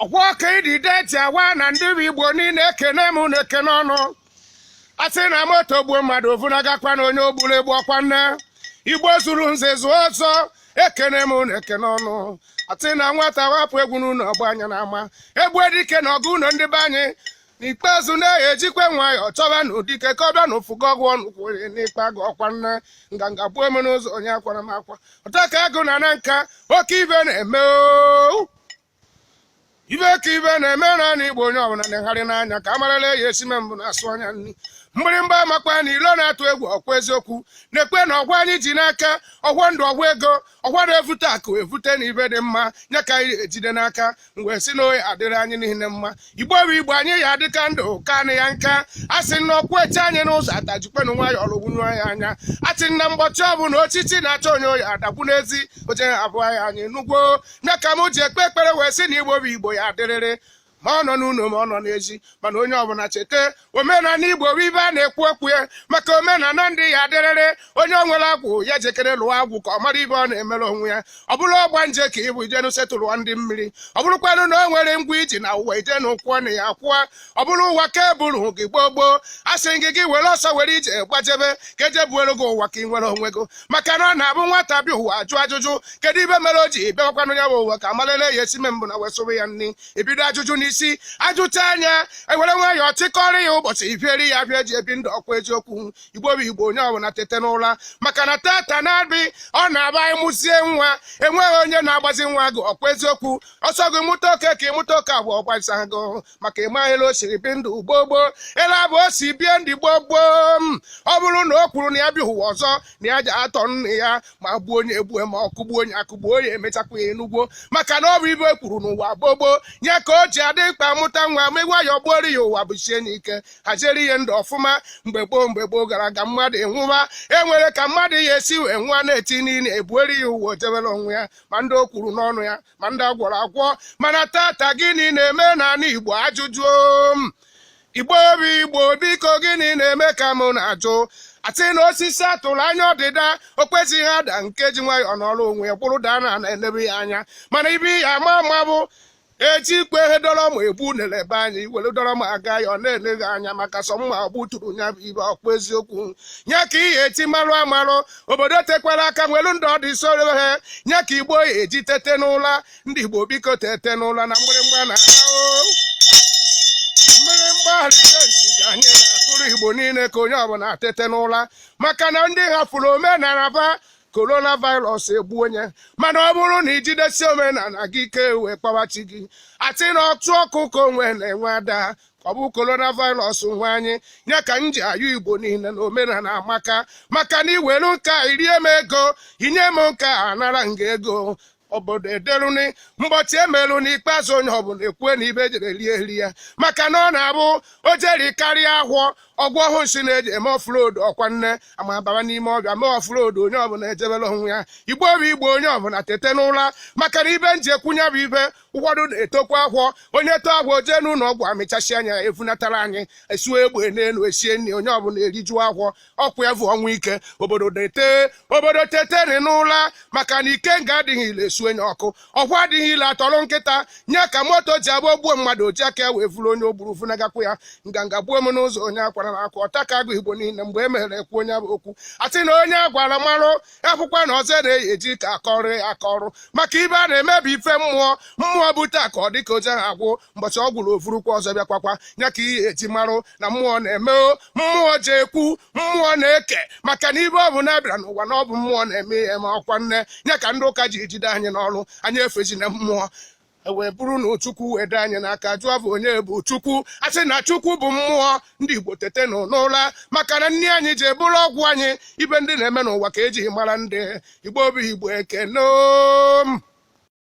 ọgwa ọka ịdị deti awa na ndị igbo niile ekene m na ekene unu a sị na moto gbuo mmadụ ovunagakwa na onye ogburu egbu ọkwa nne igbo zuru nze zuo ọzọ ekene m na ekene unu a sị na nwata wapụ egwu n'ụlọ ọ gbaa ya na ama e gbuo dike na ọgụ ụlọ ndị be anyị n'ikpeazụ na-eyi ejikwe nwayọọ chọbanụ dike ka ọ bịa na ụfụgo ọgwụ ọnụ kwụrụ n'ikpe agụ ọkwa nne nganga gbuo eme n'ụzọ onye akwara m akwa ọta ka agụ na na nka oke ibe na-eme oo ibe ka ibe na-eme n'anị igbo onye ọbụla na-egharị n'anya ka amarala eyi esime mbụ na-asụ anya nri mgbịrịmgba amakwa na ilo na-atụ egwu ọkwa eziokwu na-ekwe na ọgwa anyị ji n'aka ọgwọ ndụ ọgwọ ego ọkwa na-evute akụ evute na ibe dị mma nya ka anyị ejide n'aka wee sị na ọ ya adịrị anyị niile mma igbo bụ igbo anyị ya adịka ndụ kaa nya nka a sị na ọkwụchie anyị n'ụzọ ata jikwenụ nwayọ ọlụgwunye ya anya a sị na mgbọchi ọbụla ochichi na-achọ onye ọ ya adagbu n'ezi oje abụha anyị nugwo nya ka m ji ekpe ekpere wee sị na igbo bụ igbo ya adịrịrị ma ọ nọ n'ụlọ ma ọ nọ n'ezi mana onye ọbụla cheta omenala igbo bụ ibe a na-ekwu okwu ya maka omenala ndị ya dịrịrị onye o nwere agwụ ya jekere lụọ agwụ ka ọ mara ibe ọ na-emere onwe ya ọ bụrụ ọgbanje ka ịbụ ijenu setụlụọ ndị mmiri ọ bụrụkwanụ na o nwere ụgwọ i ji na ụwa ijenu kwụọ nya akwụọ ọ bụrụ ụwa ka eburu gị gboo gboo a sị gị gị were ọsọ were ije gbajebe ka eje buoro gị ụwa ka ị nwere onwe gị maka na ọ na-abụ nwata bịa ụwa ajụ ajụjụ kedu ibe mere o ji bịawakwanụ ya bụ ụwa ka amalele ya esi me mbụ na wesụrụ ya nri ebido ajụjụ n'isi ajụchaa nya ewere nwayọọ chịkọrọ ya ụbọchị ibieri ya bịa eji ebi ndụ ọkwa eziokwu igbo bụ igbo onye ọbụla tete n'ụra maka na tata na-abị ọ na-abụ ịmụzie nwa enweghị onye na-agbazi nwa gị ọkwa eziokwu ọsọ gị mụta oke ka ịmụta oke abụọ ọgbasa gị maka ịmaghịla o siri bi ndụ gboo gboo ele abụ o si bie ndụ gboo gboo ma ọ bụrụ na o kwuru na ya bịa ụwa ọzọ na ya ja atọ nne ya ma gbuo nya egbue ma ọ kụgbuo nya akụgbuo ya emechakwa ya ịnugwo maka na ọ bụ ibe e kwuru n'ụwa gboo gboo nya ka o ji adị mkpa mụta nwa ma nwayọ gbuoro ya ụwa busie nya ike haziere ya ndụ ọfụma mgbe gboo mgbe gboo gara aga mmadụ enwụwa e nwere ka mmadụ ya esi wee nwụa na-eti niile ebuoro ya ụwa o jebere onwe ya ma ndị o kwuru n'ọnụ ya ma ndị agwọrọ agwọ mana tata gịnị na-eme n'ala Igbo ajụjụ Igbo bụ Igbo biko gịnị na-eme ka mụ na-ajụ a sị na osisi atụrụ anya ọdịda o kwezịghị ada nke ji nwayọọ nọrọ onwe ya kwụrụ daa na na-elebe ya anya mana ibe ya ama ama bụ ejikwe ihe dọrọ mma egbu na-elebe anya iwere dọrọ ma aga ya ọ na-eleghị anya maka sọ mma gbuturu ya bụ ibe ọkwa eziokwu nya ka ị ya eji marụ amarụ obodo tekwara aka nwelu ndị ọ dị soro ha nya ka igbo ya-eji tete n'ụla ndị igbo biko tete n'ụla na mgbịrịmgba na mgbịrịmgba alitenti ka anyị na-akụrụ igbo niile ka onye ọbụla tete n'ụla maka na ndị hafụrụ omenala ba coronavirus egbu onye mana ọ bụrụ na ijidesi omenala gị ike wee kpawachi gị atị na ọtụ ọkụ ka onwe na-enwe ada ọ bụ coronavirus nwe anyị ya ka m ji ayọ igbo niile na omenala amaka maka na iwelu nka irie m ego inye m nka anara nga ego obodo ederuni mbọchị emerụ n'ikpeazụ onye ọbụla ekwue na ife jere rie eri ya maka na ọ na-abụ o jeri karịa ahọ ọgwụ ọhụụ nsị na-eji eme offload ọkwa nne ama baba n'ime ọhịa mee offload onye ọbụla ejebere onwe ya igbo bụ igbo onye ọbụla tete n'ụra maka na ife m ji ekwu nya bụ ife ụfọdụ na-etokwa ahọ onye too ahọ jee n'ụlọ ọgwụ amịchasị anya efunatara anyị esuo egbe n'elu esie nri onye ọbụla erijuo ahọ ọkwa ya bụ ọnwụ ike obodo na-ete obodo tetenụ n'ụla maka na ikenga adịghị ile esunye ọkụ ọkwa adịghị ile atọrọ nkịta nya ka moto ji agba gbuo mmadụ oji aka ya wee vuru onye o gburu funagakwu ya nganga gbuo m n'ụzọ onye akwara na akwa ọta ka agụ igbo niile mgbe e mere ekwu onye bụ okwu atị na onye agwara marụ akwụkwọ na ọzọ na-eyi eji ka akọrọ akọrụ maka ife a na-eme bụ ife mmụọ mmụọ bute ka ọ dịka oje ha agwụ mbọchị ọ gwụrụ o vurukwa ọzọ bịakwakwa ya ka ihe eji marụ na mmụọ na-eme mmụọ ji ekwu mmụọ na-eke maka na ife ọbụna bịara n'ụwa na ọ bụ mmụọ na-eme ihe ma ọkwa nya ka ndị ụka ji ejide anyị n'ọrụ anyị efezina mmụọ e wee bụrụ na Chukwu wee dị anyị n'aka jụọ ba onye bụ Chukwu asị na Chukwu bụ mmụọ ndị Igbo tetenụ n'ụla maka na nni anyị ji bụrụ ọgwụ anyị ife ndị na-eme n'ụwa ka e jiri mara ndị Igbo bụ Igbo ekene